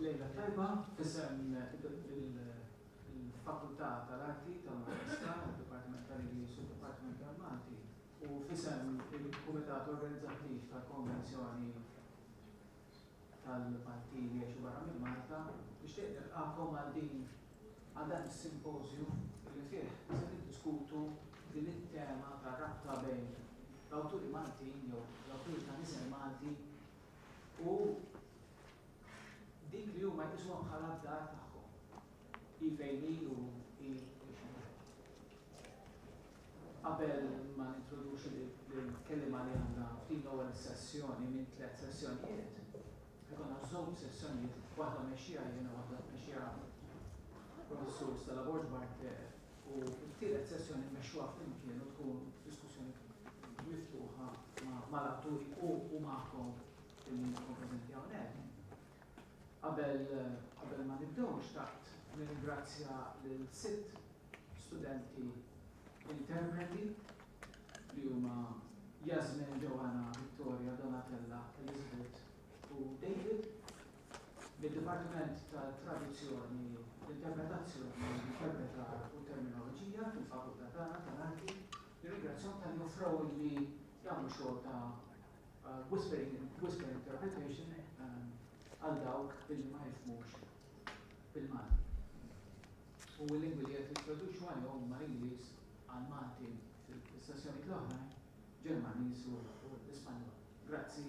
Lejla tajba, fissem il-fakultà tal-arti tal-Università, il-Dipartiment tal-Ingliż u il-Dipartiment tal-Malti. u f'isem il-Kumitat Organizzattiv tal-Konvenzjoni tal-Parti li Jgħixu Barra minn Malta, nixtieq nilqagħkom għal din għal dan is-simpożju li fih se niddiskutu din it-tema tar-rabta bejn l-awturi Maltin jew l-awturi ta' nisel Malti u dik li huma jqisuha bħala d-dar tagħhom. Hi fejn hi u hi x'inhi. Qabel ma nintroduċi lill-kelliema li għandna f'din l-ewwel sessjoni minn tliet sessjonijiet, se jkollna żewġ sessjonijiet, waħda mmexxiha jien u waħda tmexxiha Professur Stella Borg Barthe u t-tielet sessjoni mmexxuha flimkien u tkun diskussjoni miftuħa mal-atturi u magħkom li intom preżenti hawnhekk. Qabel qabel ma nibdew xtaqt nirringrazzja lil sitt studenti interpreti li huma Yasmin, Joanna, Victoria, Donatella, Elizabeth u David mid-Dipartiment ta' Traduzzjoni, Interpretazzjoni, Interpretar u Terminoloġija fil-Fakultà tagħna tal-Arti. Nirringrazzjahom talli offrewli li jagħmlu xogħol ta' Whispering Whisper Interpretation għal dawk illi ma jifhmux bil-Malti. U l-lingwi li qed nittraduċu għalihom huma l-Ingliż għal Malti fis-sessjonijiet l-oħrajn, Ġermaniż u l-Ispanjol. Grazzi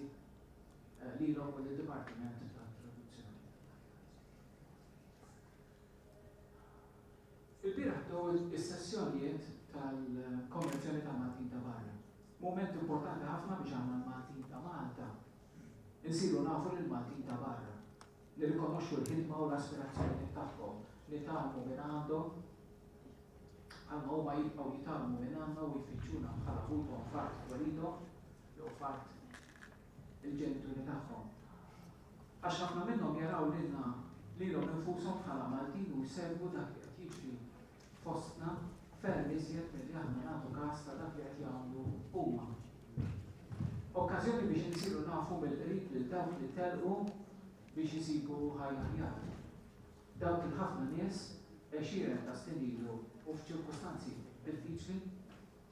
lilhom u lid-Dipartiment tat-Traduzzjoni. Ilbieraħ bdew is-sessjonijiet tal-Konvenzjoni tal-Maltin ta' Barra. Mument importanti ħafna biex aħna l-Maltin ta' Malta nsiru nafu lill-Maltin ta' barra, nirrikonoxxu l-ħidma u l-aspirazzjonijiet tagħhom, nitgħallmu minn għandhom bħalma huma jibqgħu jitgħallmu minn għandna u jfittxuna bħala ħuthom f'art twelidhom jew f'art il-ġenituri tagħhom. Għax ħafna minnhom jaraw lilna lilhom infushom bħala Maltin u jsegwu dak li qed jiġri fostna ferm iżjed milli aħna nagħtu kas ta' dak li qed jagħmlu huma. Okkażjoni biex insiru nafu mill-qrib lil dawk li telqu biex isibu ħajja aħjar. Dawk il-ħafna nies, għexieren ta' snin ilu u f'ċirkustanzi diffiċli,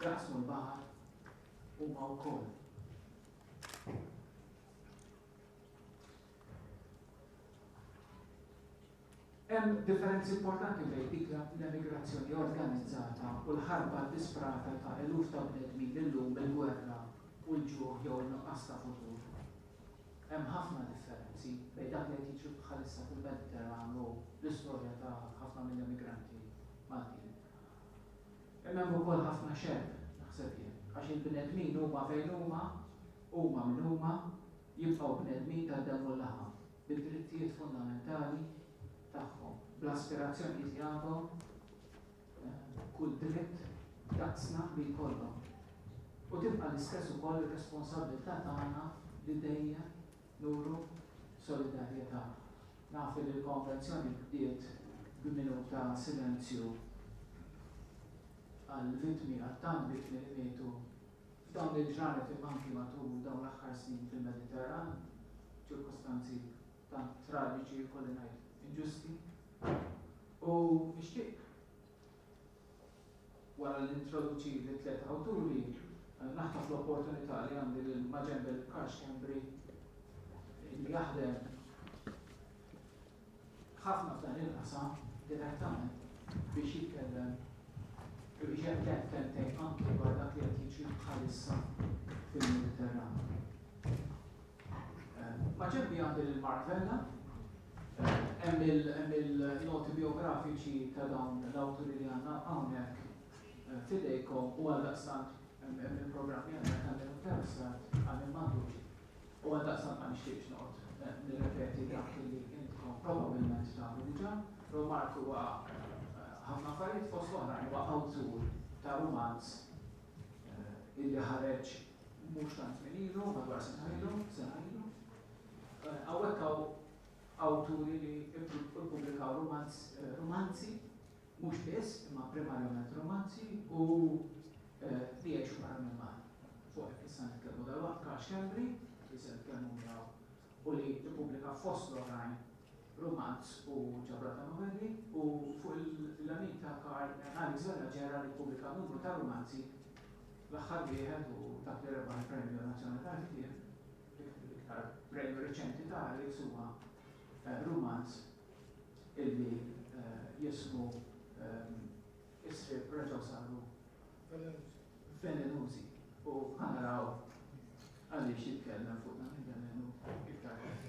Jaqsmu l-baħar huma wkoll. Hemm differenzi importanti bejn dik l-emigrazzjoni organizzata u l-ħarba disprata ta' eluf ta' bnedmin illum il-gwerra u l-ġuħ jew nuqqas ta' futur. Hemm ħafna differenzi bejn dak li qed jiġri bħalissa fil-Mediterran u l-istorja ta' ħafna mill-emigranti Maltin. Hemm hemm ukoll ħafna xebh, naħseb jien, għax il-bnedmin huma fejn huma, huma min huma, jibqgħu bnedmin tad-demm u l-laħam, bid-drittijiet fundamentali tagħhom, bl-aspirazzjonijiet li għandhom kull dritt daqsna li jkollhom. U tibqa' l-istess ukoll ir-responsabbiltà tagħna li dejjem Nuru solidarjetà. Naf li l-konvenzjoni bdiet b'minuta silenzju għall-vittmi għat-tant vittmi li mietu f'dawn il-ġranet imma anki matul dawn l-aħħar snin fil-Mediterran, ċirkustanzi tant traġiċi jkolli ngħid inġusti. U nixtieq. Wara li nintroduċi lit-tliet awturi, naħtaf l-opportunità li għandi lil Majembel Karshembri li jaħdem ħafna f'dan il-qasam direttament biex jitkellem u biex jgħid kemmtejn anke dwar dak li qed jiġri bħalissa fil-Mediterran. Maġenbi għandi lil Mark Vella, hemm il-noti biografiċi ta' dawn l-awturi li għandna hawnhekk f'idejkom u għaldaqstant hemm il-programmi għandna ta' min interessat għal min m'għandux. U għaldaqstant ma nixtieqx noqgħod nirrepeti dak li intkom probabbilment tafu diġà. Però Mark huwa ħafna affarijiet fost oħrajn huwa awtur ta' rumanz illi ħareġ mhux tant żmien ilu, madwar sena ilu, sena ilu. Hawnhekk hawn awturi li ppubblikaw romanz, romanzi, mhux biss, imma primarjament romanzi u li jgħixu barra minn Malta. Fuq hekk issa nitkellmu dal-waqt Karl Schembri, li se nitkellmu miegħu u li ppubblika fost l-oħrajn Rumanz u ġabra ta' novelli, u fuq il-lemin ta' Karl hemm Alex Vella Ġera li ppubblika numru ta' rumanzi, l-aħħar wieħed u dak li rebaħ il-Premju Nazzjonali tal-Ktieb, l-iktar premju riċenti ta' Alex huwa rumanz illi jismu Is-Sriep Reġgħu Saru Velenużi u ħa naraw għaliex jitkellem fuq dan il-velenu iktar tard.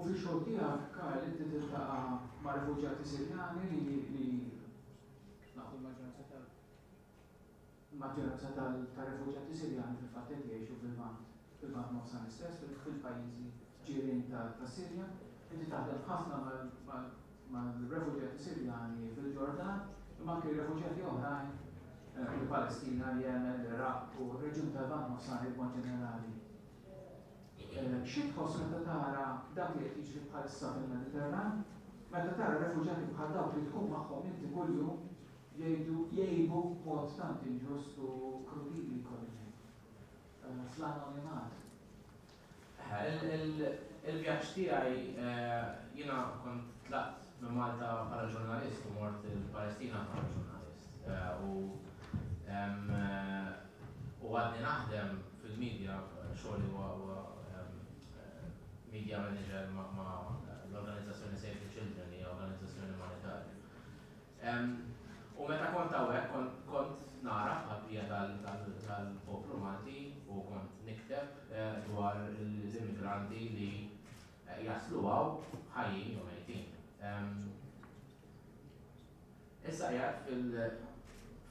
U fix-xogħol tiegħek, Karl, inti tiltaqa' ma' refuġjati Sirjani li li nafu l-maġġoranza tal l-maġġoranza tal tar-refuġjati Sirjani fil-fatt qed jgħixu fil-Lvant, fil-Lvant Nofsani stess, fil-pajjiżi ġirien ta' tas-Sirja. Inti taħdem ħafna mal mal mal-refuġjati Sirjani fil-Ġordan, imma anke refuġjati oħrajn mill-Palestina, l-Jemen, l-Iraq u r-reġjun tal-Lvant Nofsani b'mod ġenerali. Xi tħoss meta tara dak li qed jiġri bħalissa fil-Mediterran? Meta tara refuġjati bħal dawk li tkun magħhom inti kuljum jgħidu, jgħibu b'mod tant inġust u krudili jkolli ngħid, fl-anonimat? Il-vjaġġ tiegħi, jiena kont tlaqt minn Malta bħala ġurnalist u mort il-Palestina bħala ġurnalist u U għadni naħdem fil-media, xogħli huwa media manager ma' l-organizzazzjoni Save the Children li hija organizzazzjoni umanitarja. U meta kont hawnhekk kont nara bħal-bija tal-poplu Malti u kont nikteb eh, dwar l-immigranti li eh, jaslu għaw ħajjin jew mejtin. Issa qiegħed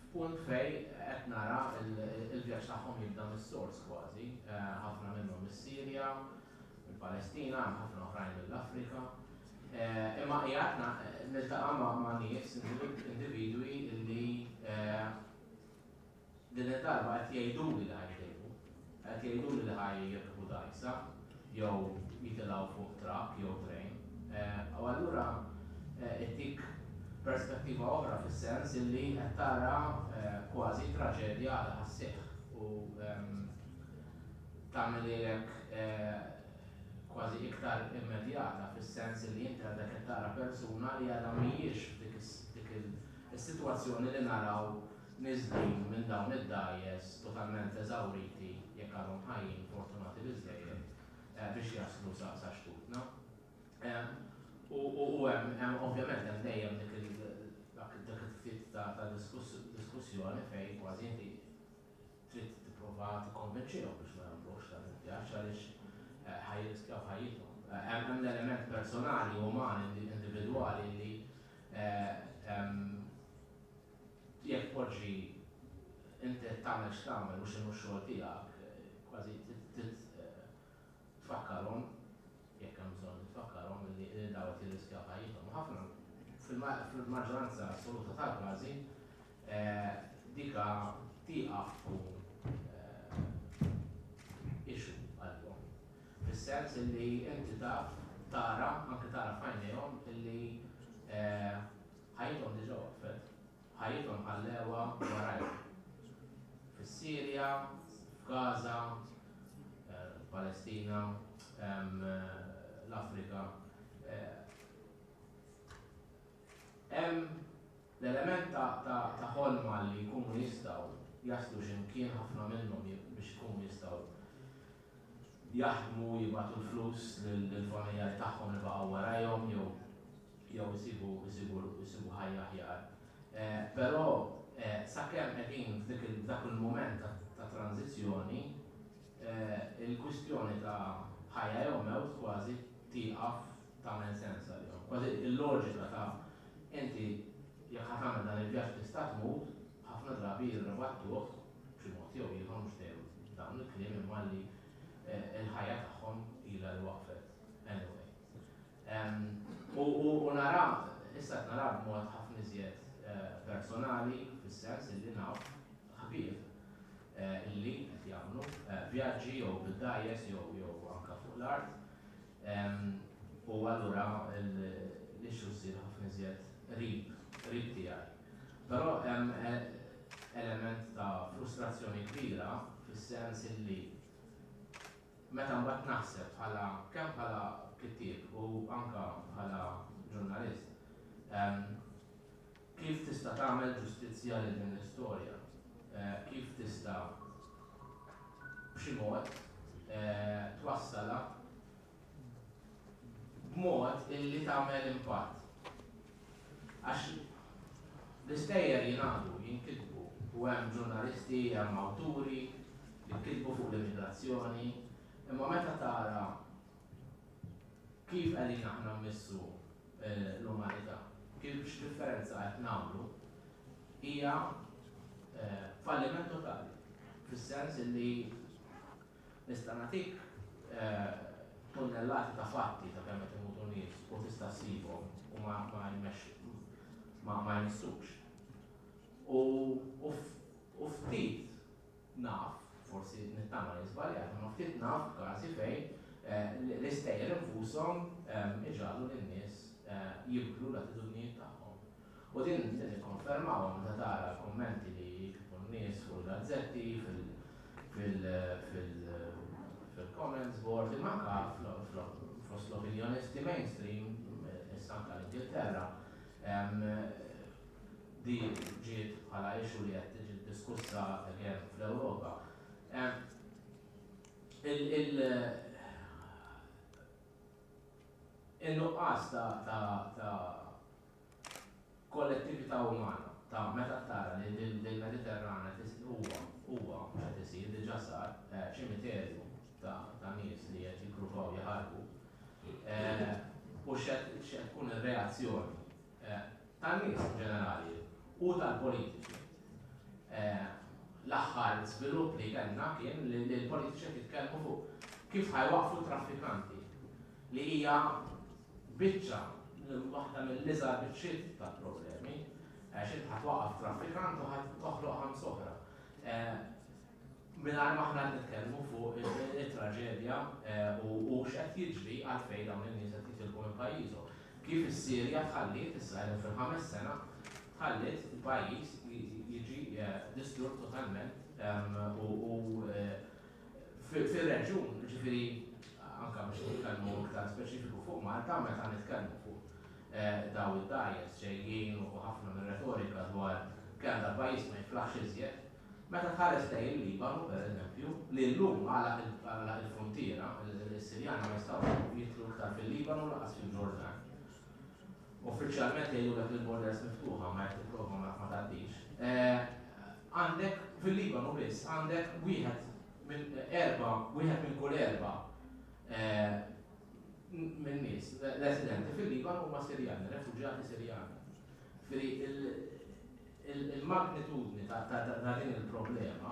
f'punt fejn qed nara l-vjaġġ tagħhom jibda mis-sors kważi. Ħafna minnhom mis-Sirja, mill-Palestina, hemm ħafna oħrajn mill-Afrika. Imma qiegħed niltaqa' ma' nies, individwi li Din id-darba qed jgħiduli li ħajtilfu. Qed jgħiduli li ħa jirkbu dgħajsa jew jitilgħu fuq trakk jew trejn. U allura ittik perspettiva oħra fis-sens illi qed tara kważi traġedja li ħa sseħħ u tagħmilhielek kważi iktar immedjata fis-sens illi inti għadek qed tara persuna li għadha mhijiex f'dik is-sitwazzjoni li naraw Niżlin minn dawn id-dgħajjes totalment eżawriti, jekk għadhom ħajjin, fortunati biżżejjed biex jaslu sa sa xtutna. U u hemm hemm ovvjament hemm dejjem dik il dak dak it-tip ta' ta' diskuss diskussjoni fejn kważi inti trid tipprova tikkonvinċihom biex ma jagħmlux dan il-vjaġġ għaliex ħa jirriskjaw ħajjithom. Hemm hemm l-element personali, umani, individwali li Jekk tpoġġi inti qed tagħmel x'tagħmel mhux inhu x-xogħol tiegħek, kważi trid tfakkarhom, jekk hemm bżonn li tfakkarhom, li dawn qed jirriskjaw ħajjithom. U ħafna, fil-maġġoranza assoluta tal-każi, dika tieqaf tkun issue għalihom. Fis-sens li inti taf, tara, anke tara f'għajnejhom illi Ħajjithom diġà waqfet. Ħajjithom ħallewha warajhom. Fis-Sirja, f'Gaza, f'Palestina, l-Afrika. Hemm l-element ta' ħolma li jkunu jistgħu jaslu xi mkien ħafna minnhom biex ikunu jistgħu jaħdmu, jibgħatu l-flus lill-familjar tagħhom li baqgħu warajhom jew jew isibu isibu isibu ħajja aħjar. Però sakemm qegħdin f'dik f'dak il-mument ta' ta' tranżizzjoni, il-kwistjoni ta' ħajja jew mewt kważi tieqaf tagħmel sens għalihom. Kważi l-loġika ta' inti jekk ħa tagħmel dan il-vjaġġ tista' tmut, ħafna drabi jirribattuh b'xi mod jew ieħor mhux dejjem b'dawn il-kliem imma li l-ħajja tagħhom ilha li waqfet anyway. U nara, issa qed nara b'mod ħafna iżjed personali fis-sens illi naf ħbieb illi qed jagħmlu vjaġġi jew bid-dgħajjes jew jew anke fuq l-art. U allura l-issue ssir ħafna iżjed qrib qrib tiegħi. Però hemm element ta' frustrazzjoni kbira fis-sens illi meta mbagħad naħseb bħala kemm bħala kittieb u anke bħala ġurnalist kif tista' tagħmel ġustizzja lil din l-istorja? Kif tista' b'xi mod twassalha b'mod illi tagħmel impatt. Għax l-istejjer jingħadu, jinkitbu u hemm ġurnalisti, hemm awturi li kitbu fuq l-immigrazzjoni, imma meta tara kif qegħdin aħna mmissu l-umanità, kif x'differenza qed nagħmlu, hija falliment totali fis-sens illi Nista' nagħtik tunnellati ta' fatti ta' kemm qed imutu nies u tista' ssibhom u ma ma ma jmissux. U u ftit naf, forsi nittama li żbaljat, imma ftit naf każi fejn l-istejjer infushom iġagħlu lin-nies jibdlu l-attitudnijiet tagħhom. U din inti tikkonfermaha meta tara l-kummenti li jiktbu n-nies fuq il-gazzetti, fil-comments board, imma anke fost l-opinjonisti mainstream, issa anke l-Ingilterra, din ġiet bħala issue li qed tiġi diskussa again fl-Ewropa. In-nuqqas ta' kollettività umana ta' meta tara li l-Mediterran qed huwa huwa mhux qed isir, diġà sar, ċimiterju ta' ta' nies li qed jippruvaw jaħarbu. U x'qed x'qed tkun ir-reazzjoni tan-nies in ġenerali u tal-politiċi. L-aħħar żvilupp li kellna kien li l-politiċi qed jitkellmu fuq kif ħajwaqqfu t-traffikanti li hija Biċċa, waħda mill-iżgħar biċċiet ta' problemi, għax int ħadd waqqaf traffikant u ħadd toħloq ħams oħra. Mingħajr ma aħna nitkellmu fuq it-traġedja u x'qed jiġri għad fejn dawn in-nies qed jitilqu minn pajjiżhom. Kif is-Sirja tħalliet issa fil-ħames sena tħalliet il-pajjiż jiġi distrutt totalment u fir-reġjun, jiġifieri anke biex nitkellmu iktar speċifiku fuq Malta, meta nitkellmu fuq dawn id-dgħajjes ġejjin u ħafna mir-retorika dwar kemm dal-pajjiż ma jiflaħx iżjed, meta tħares lejn il-Libanu, pereżempju, li llum għalaq il-fruntiera, is-Sirjani ma jistgħux jidħlu iktar fil-Libanu u lanqas fil-Ġordan. Uffiċjalment jgħidulek li l-borders miftuħa ma jekk tipprova ma tgħaddix. Għandek, fil-Libanu biss, għandek wieħed minn erba', wieħed minn kull erba' minn nies residenti fil-Liban huma Sirjani, refuġjati Sirjani. Ġifieri il-magnitudni ta' din il-problema